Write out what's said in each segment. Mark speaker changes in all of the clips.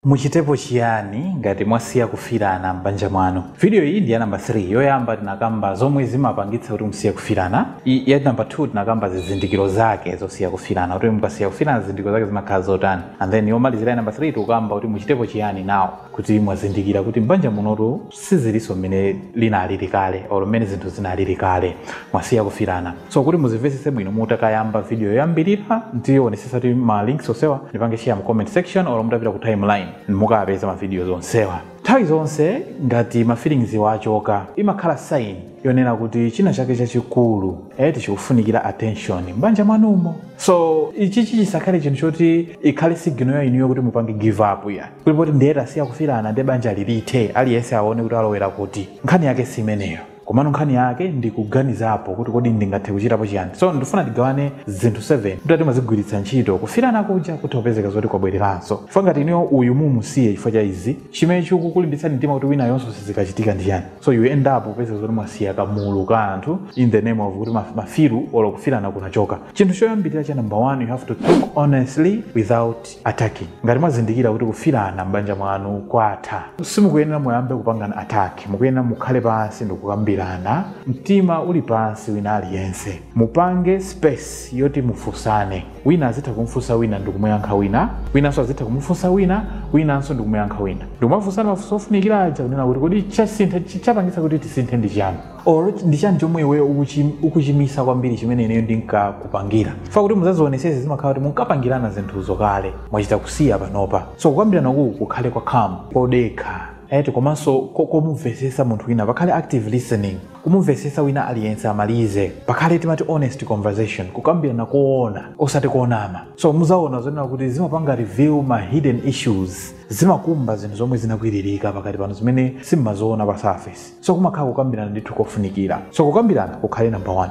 Speaker 1: Muchitepo chiyani ngati mwasiya kufirana m'banja mwanu? Video iyi ndi ya number 3. Yoyamba tinakamba zomwe zimapangitsa kuti musiye kufirana. Ya number 2 tinakamba zizindikiro zake zosiya kufirana. Kuti mukasiya kufirana zizindikiro zake zimakhala zotani. And then yomalizira ya number 3 tikukamba kuti muchitepo chiyani now kuti mwazindikira kuti m'banja munotu sizilinso mmene linalili kale or mmene zinthu zinalili kale mwasiya kufirana so kuti muzimvetsetse bwino mutakayamba video yoyambirira ndionesesa kuti ma links onsewa ndipange share mu comment section or mutapita ku timeline mukapeza ma videos onsewa nthawi zonse ngati ma feelings achoka imakhala sign yonena kuti china chake chachikulu eti chikufunikira attention m'banja mwanumo so ichichi chisakhale chinthu choti ikhale signal ya inuyo kuti mupange give up ya kuti poti ndiye tasiya kufirana ndiye banja lithe aliyense aone kuti alowera kuti nkhani yake si imeneyo komano nkhani yake ndikuganizapo kuti kodi ndingathe kuchitapo chiyani so ndifuna tigawane zinthu 7 kuti timazigwiritsa ntchito kufirana kuja kutha kupezeka zoti kwabwereranso fa ngati inuyo uyu mumusiye chifukwa cha izi chimene chikukulimbitsani mtima kuti winayonso sizikachitika ndi chani so you end up upezeka zoti mwasiya kamulu ka anthu in the name of kuti maf- mafiru olo kufirana kunachoka chinthu choyambirira cha number one you have to talk honestly without attacking ngati mwazindikira kuti kufirana m'banja mwanu kwatha simukuyenera muyambe kupangana attack mukuyenera mukhale pansi ndikukambirana mtima uli pansi wina aliyense mupange space yoti mufunsane wina azitha kumfunsa wina ndikumuyankha wina winanso azitha kumufunsa wina winanso ndikumuyankha wina ndikumafunsana mafunso ofunikira aja kunena kuti kodi chasintha chi- chapangitsa kuti tisinthe ndi chiyani or ndi chani chomwe iweyo ukuchim- ukuchimisa kwambiri chimene ineyo ndinkakupangira fa kuti muzazionesese zimakhala kuti munkapangirana zinthuzo kale mwachita kusiya panopa so kukambirana uku kukhale kwa calm kodekha eti komanso ko- komumvesesa munthu wina pakhale active listening kumumvesesa wina aliyense amalize pakhale timati honest conversation kukambirana koona osati konama so muzaona zonena kuti zimapanga reveal ma hidden issues zimakumba zinthu zomwe zinakwiririka pakati panu zimene simmaziona pa surface so kumakhala kukambirana ndithu kofunikira so kukambirana kukhale number 1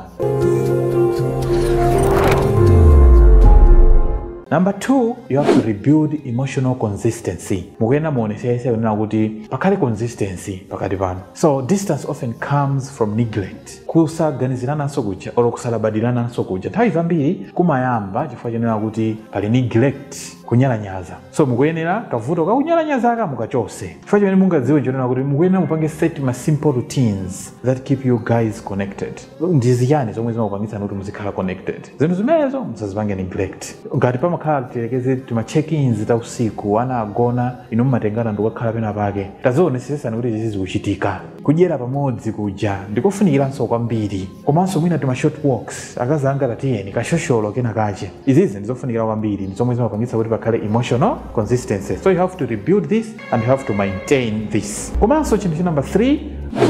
Speaker 1: number 2 you have to rebuild emotional consistency mukuyenera muonesese kunena kuti pakhale consistency pakati panu so distance often comes from neglect kusaganizirananso kuja or kusalabadirananso kuja nthawi zambiri kumayamba chifukwa chonena kuti pali neglect kunyalanyaza so mukuyenera kavuto kakunyalanyazaka mukachose chifukwa chimene mungadziwe nchonena kuti mukuyenera mupange set ma simple routines that keep you guys connected ndi zichani zomwe zimakupangitsani kuti muzikhala connected zinthu zimenezo musazipange neglect ngati pamakhala tiyerekeze tima check-ins ta usiku ana agona inu mumatengana ndikukakhala pena pake tazionesesani kuti izi zikuchitika kudyera pamodzi kuja ndikofunikiranso kwambiri komanso mwina tima short walks akazanga tatiyeni kashosholo kena kache izizi ndizofunikira kwambiri ndi zomwe zimapangitsa kuti pakhale emotional consistency so you have to rebuild this and you have to maintain this komanso chinthu cha number 3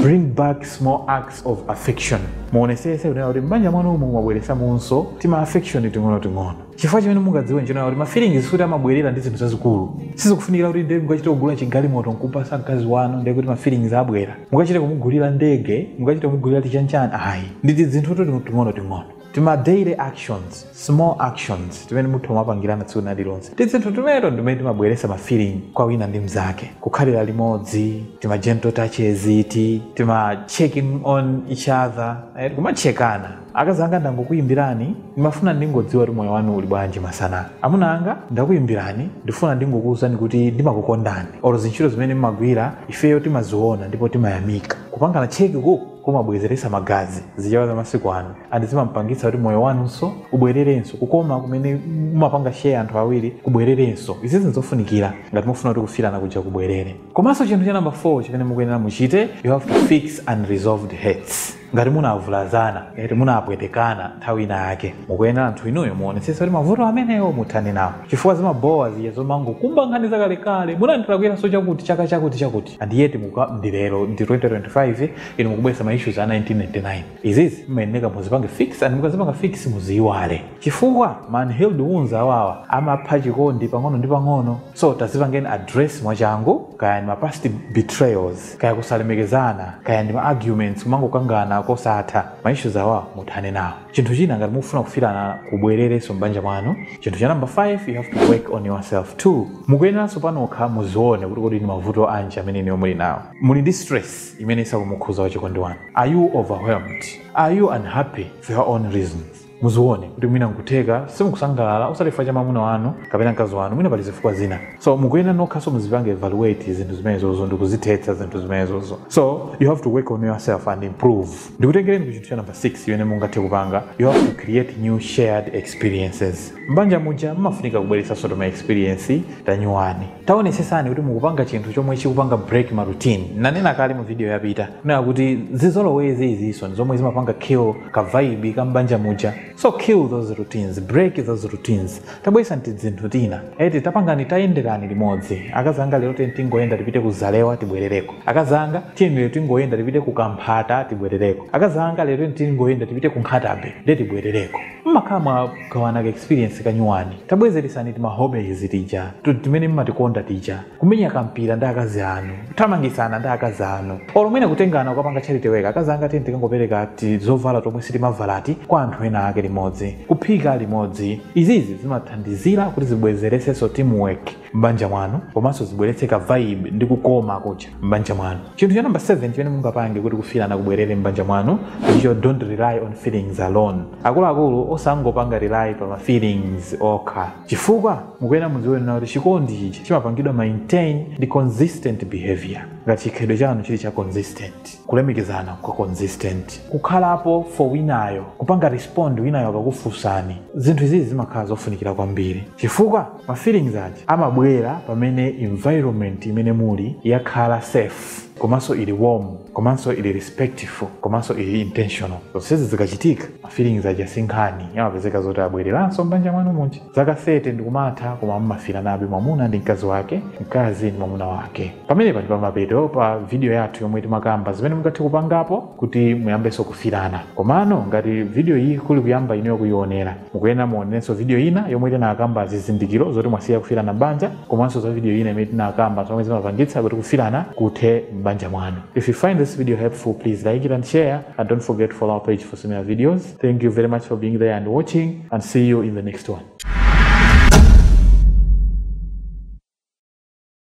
Speaker 1: bring back small acts of affection muonesese kunena kuti m'banja mwanumo mukumabweresamonso tima affection ting'onoting'ono chifukwa chimene mungadziwe nchonena kuti mafeelings sikuti amabwerera ndi zinthu zazikulu sizikufunikira kuti ndiye mukachite kugula chigalimoto nkupasa mkazi wanu ndiye kuti mafeelings abwera mukachite kumugulira ndege mukachite kumugulira tichanchani ayi ndi tizinthu ting'ono ting'ono tima daily actions small actions timene munthu umapangirana tsiku nalilonse tizinthu timeneto ndimene timabweresa ma feeling kwa wina ndi mzake kukhalira limodzi tima gentle touches eti tima checking on each other eh, kumatchekana Akazanga ndangokuyimbirani ndimafuna ndingodziwa kuti moyo wanu uli bwanji masana. Amuna anga ndakuyimbirani ndifuna ndingokuwuzani kuti ndimakukondani olo zintchito zimene mmagwira ifeyo timaziwona ndipo timayamika. Kupangana check uku kumabwezeretsa magazi, zichewa zamasiku ano, and zimampangitsa kuti moyo wanunso ubwererenso, kukoma kumene mumapanga share anthu awiri kubwererenso. Izizi nzofunikira ngati mufuna kuti kufilana kuja kubwerere. Komanso chinthu cha number 4 chimene mukuyenera muchite, you have to fix unresolved hurts. ngati munavulazana ngati munapwetekana nthawi ina yake mukuyenera anthu inuyo muonetsese kuti mavuto amenewo muthane nawo chifukwa zimabowa ziya zomangokumba nkhani zakalekale munandilakwiranso chakuti chaka chakuti chakuti and yet ndi lero ndi 2025 inu mukubweresa ma issues a 1999 izizi mmayeneka muzipange fix and mukazipanga fix muziyiwale chifukwa ma unhealed wounds awawa amapha chikondi pang'ono ndi pang'ono so tazipangeni address mwachangu kaya ndi ma past betrayals kaya kusalemekezana kaya ndi ma arguments kumangokangana kosatha ma issues awa muthane nawo chinthu china ngati mukufuna kufilana kubwererenso m'banja mwanu chinthu cha number 5 you have to work on yourself too mukuyeneranso panokha muzione kuti kodi ndi mavuto anji amene inuyo muli nawo muli ndi stress imene isakumukhuza wachikondi wanu are you overwhelmed are you unhappy for your own reasons muzione kuti mwina nkutheka simukusangalala osati chifukwa cha mwamuna wanu kapena mkazi wanu mwina pali zifukwa zina so mukuyenera nokhanso muzipange evaluate zinthu zimenezozo ndi kuzithetsa zinthu zimenezozo so you have to work on yourself and improve ndikutengereni ku chinthu cha number 6 chimene mungathe kupanga you have to create new shared experiences mbanja muja mmafunika kubweretsanso tima experience tanyuwani taonesesani kuti mukupanga chinthu chomwe chikupanga break ma routine nanena kale mu video yapita kunena kuti zizolowezi izinso ndi zomwe zimapanga kill ka vibe ka mbanja muja so kill those routines break those routines tabweresani tizinthu tina eti tapangani tayenderani limodzi akazanga lero tiyeni tingoyenda tipite ku zalewa tibwerereko akazanga tiyeni lero tingoyenda tipite ku kamphata tibwerereko akazanga lero tiyeni tingoyenda tipite ku nkhata bay nde tibwerereko mmakhala mwagawana ka experience kanyuwani tabwezeresani tima hobbies tija ti- timene mmatikonda tija kumenya kampira ndi akazi anu kuthamangitsana ndi akazi anu olo mwina kutengana kukapanga charity work akazi anga tiyeni tikangopereka ti zovala tomwe sitimavala ti kwa anthu ena ake limodzi kuphika limodzi izizi zimathandizira kuti zibwezeretsenso teamwork m'banja mwanu komanso zibweretse ka vibe ndi kukoma kuja m'banja mwanu chinthu cha namba 7 chimene mungapange kuti kufirana kubwerere m'banja mwanu ndicho don't rely on feelings alone akuluakulu osangopanga rely pa ma feelings okha chifukwa mukuyenera mudziwe kunena kuti chikondi chichi chimapangidwa maintain ndi consistent behavior ngati chikhalidwe chanu chili cha consistent kulemekezana kwa consistent kukhalapo for winayo kupanga respond winayo akakufunsani zinthu izizi zimakhala zofunikira kwambiri chifukwa ma feelings aja amabwera pamene environment imene muli yakhala safe komanso ili warm komanso ili respectful komanso ili intentional zonsezi zikachitika mafeelings aja sinkhani amapezeka zoti abwereranso mbanja mwanu muja zaka 30 ndikumatha koma mumafiranabe mwamuna ndi mkazi wake mkazi ndi mwamuna wake pamenepa ndi pamapeto pa video yathu yomwe timakamba zimene mungathe kupangapo kuti muyambenso kufirana komano ngati video iyi kuli kuyamba inuyo kuyionera mukuyenera muonerenso video ina yomwe tinakamba zizindikiro zoti mwasiya kufirana m'banja komanso za video ina imene tinakamba zomwe zimapangitsa kuti kufirana kuthe m'banja mwanu if you find this video helpful please like it and share and don't forget to follow our page for similar videos thank you very much for being there and watching and see you in the next one